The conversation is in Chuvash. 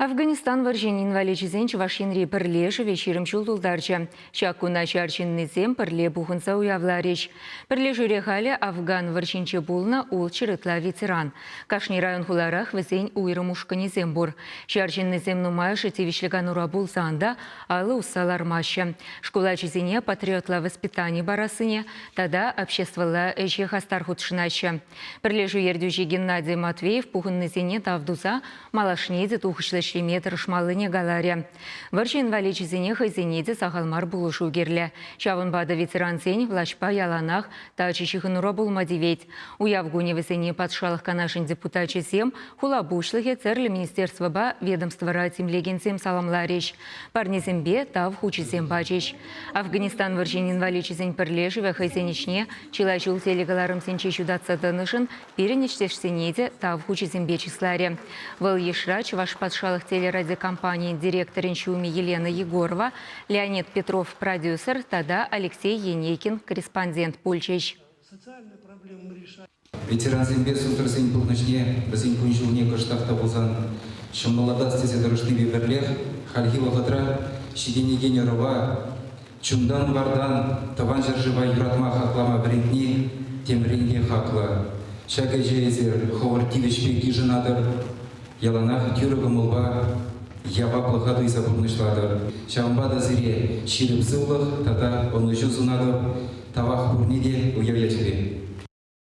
Афганистан вӑрҫин инваличӗсен Чӑваш Енри пӗрлешӗвӗ ҫирӗм ҫул тултарчӗ. Ҫак куна ҫар ҫыннисем пӗрле пухӑнса уявларӗҫ. Пӗрлешӳре халӗ афган вӑрҫинче пулнӑ ултҫӗр ытла ветеран. Кашни район-хуларах вӗсен уйрӑм ушкӑнӗсем пур. Ҫар ҫыннисем нумайӑшӗ тивӗҫлӗ канура пулсан та алӑ усса лармаҫҫӗ. Шкул ачисене патриотла воспитани парассине тата обществӑлла ӗҫе хастар хутшӑнаҫҫӗ. Пӗрлешӳ ертӳҫи Геннадий Матвеев пухӑннисене тав туса малашне те тухӑҫлӑ ӗҫлеме тӑрӑшмаллине каларӗ. Вӑрҫӑ инваличӗсене хӑйсене те сахал мар пулӑшу кирлӗ. Ҫавӑнпа та ветерансен влаҫпа яланах тачӑ ҫыхӑнура пулма тивет. Уяв кунӗ вӗсене Патшалӑх Канашӗн депутачӗсем, хула пуҫлӑхӗ тӗрлӗ министерствӑпа, ведомствӑра тимлекенсем саламларӗҫ, парнесемпе тав хучӗсем пачӗҫ. Афганистан вӑрҫин инваличӗсен пӗрлешӗвӗ хӑйсен ӗҫне Чылай ҫул телекӑларӑмсенче ҫутатса тӑнӑшӑн пирӗн ӗҫтешсене те тав хучӗсемпе чысларӗ. Вӑл йышра Чӑваш патшалӑх телерадиокомпанийӗн директорӗн ҫумӗ Елена Егорова, Леонид Петров продюсер тата Алексей Енейкин корреспондент пулчӗҫ. Ветерансемпе сусӑрсен пурнӑҫне, вӗсен кун-ҫулне кӑштах та пулсан ҫӑмӑллатас тесе тӑрӑшнипе пӗрлех хальхи вӑхӑтра ҫитӗнекен ӑрӑва Чунтан-вартан Тӑван ҫӗршыва юратма-хаклама вӗрентни темрен те хаклӑ. Ҫак ӗҫе эсир хӑвӑр тивӗҫпе йышӑнатӑр, яланах тӳрӗ кӑмӑлпа, яваплӑха туйса пурнӑҫлатӑр. Ҫавӑнпа та сире ҫирӗп сывлӑх тата ӑнӑҫу сунатӑп, тавах пурне те уяв ячӗпе!